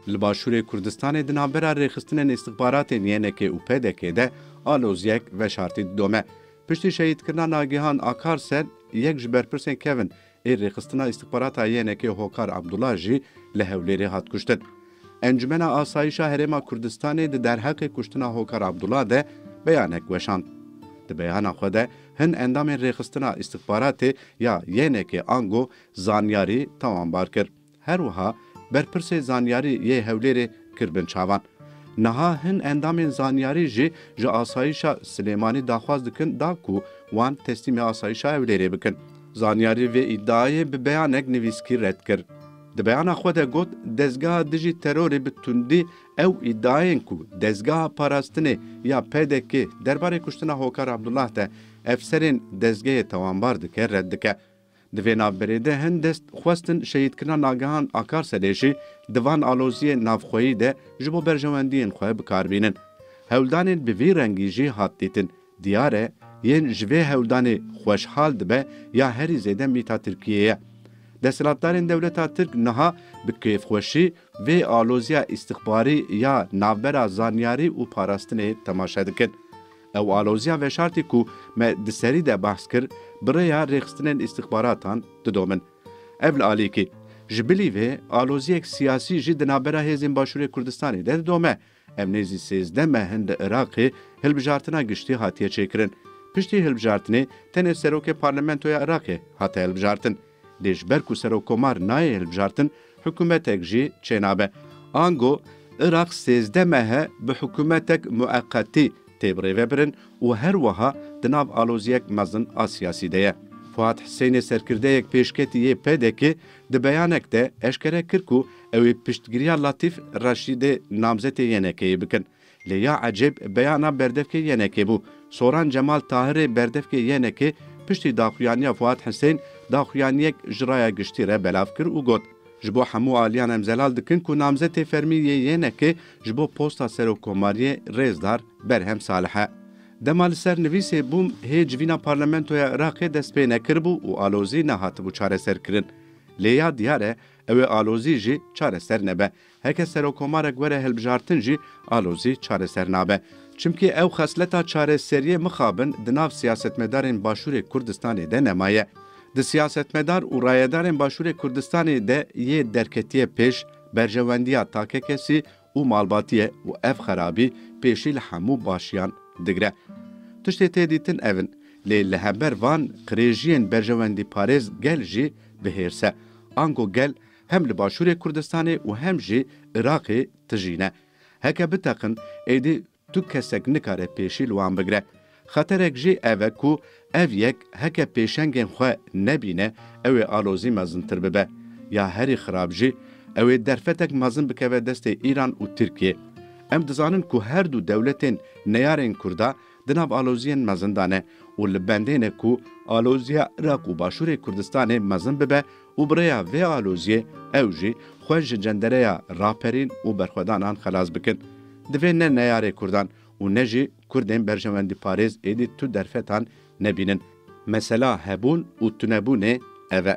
Li Başûrê Kurdistanê di navbera rêxistinên îstixbaratên YNK'ê û PDK'ê de alozyek veşartî didome. Piştî şehîdkirina Nagihan Akarsel, yek ji berpirsên kevn ê rêxistina îstixbarata YNK'ê Hokar Abdullah jî li Hewlêrê hat kuştin. Encûmena Asayîşa Herêma Kurdistanê di derheqê kuştina Hokar Abdullah de beyanek weşand. Di beyana xwe de hin endamên rêxistina îstixbaratê ya YNK'ê ango zanyarî tawanbar kir. Her wiha berpirsê zanyarî yê Hewlêrê kir bin çavan. Niha hin endamên zanyarî jî ji asayîşa Silêmanî daxwaz dikin da ku wan teslîmê asayîşa Hewlêrê bikin. Zanyarî vê îdiayê bi beyanek nivîskî red kir. Di beyana xwe de got, Dezgeha dijî terorê bi tundî ew îdiayên ku Dezgeha Parastinê ya PDK'ê derbarê kuştina Hokar Abdullah de efserên dezgehê tawanbar dike red dike. Di vê navberê de hin dest xwestin şehîdkirina Nagehan Akarselê jî di van aloziyên navxweyî de ji bo berjewendiyên xwe bi kar bînin. Hewldanên bi vî rengî jî hat dîtin. Diyar e yên ji vê hewldanê xweşhal dibe ya herî zêde mîta Tirkiyê ye. Desthilatdarên dewleta Tirk niha bi kêfxweşî vê aloziya îstixbarî ya navbera zanyarî û parastinê temaşe dikin. Ew aloziya veşartî ku me di serî de behs kir, bi rêya rêxistinên îstixbaratan didomin. Ev li alîkî, ji bilî vê aloziyek siyasî jî di navbera hêzên Başûrê Kurdistanê de didome. Ev nêzî sêzdeh meh in li Iraqê hilbijartina giştî hatiye çêkirin. Piştî hilbijartinê tenê Serokê Parlamentoya Iraqê hate hilbijartin. Lê ji ber ku serokkomar nayê hilbijartin, hikûmetek jî çênabe. Ango Iraq sêzdeh mehe bi hikûmetek mueqetî tê birêvebirin û her wiha di nav aloziyek mezin a siyasî de ye. Fuat Hisênê serkirdeyek pêşketî yê PDK'ê di beyanek de eşkere kir ku ew ê piştgiriya Latîf Reşîdê namzetê YNK'ê bikin. Lê ya ecêb beyana berdevkê YNK'ê bû. Soran Cemal Tahirê berdevkê YNK'ê piştî daxuyaniya Fuat Husên daxuyaniyek ji raya giştî re belav kir û got, Ji bo hemû aliyan em zelal dikin ku namzetê fermî yê YNK'ê ji bo posta Serokkomariyê Rêzdar Berhem Salih e. Dema li ser nivîsê bûm hê civîna parlamentoya Iraqê dest pê nekiribû û alozî nehatibû çareserkirin. Lê ya diyar e Ew ê alozî jî çareser nebe. Heke serokomarek were hilbijartin jî alozî çareser nabe. Çimkî ew xesleta çareseriyê mixabin di nav siyasetmedarên Başûrê Kurdistanê de nemaye. Di siyasetmedar û rayedarên Başûrê Kurdistanê de yê derketiye pêş, berjewendiya takekesî û malbatî ye û ev xerabî pêşî li hemû başiyan digire. Tiştê tê dîtin ev in, lê li hember van qirêjiyên berjewendîparêz gel jî bi hêrs e. Ango gel hem li Başûrê Kurdistanê û hem jî Iraqê tijî ne. Heke biteqin êdî Tu kesek nikare pêşî li wan bigire. Xeterek jî ev e ku ev yek heke pêşengên xwe nebîne ew ê alozî mezintir bibe. Ya herî xirab jî ew ê derfetek mezin bikeve destê Îran û Tirkiyê. Em dizanin ku her du dewletên neyarên Kurda di nav aloziyên mezin de ne û li bendê ne ku aloziya Iraq û Başûrê Kurdistanê mezin bibe Û bi rêya vê aloziyê ew jî xwe ji cendereya raperîn û berxwedanan xelas bikin. Divê ne neyarê kurdan û ne jî kurdên berjewendîparêz êdî tu derfetan nebînin. Mesela hebûn û tunebûnê ev e.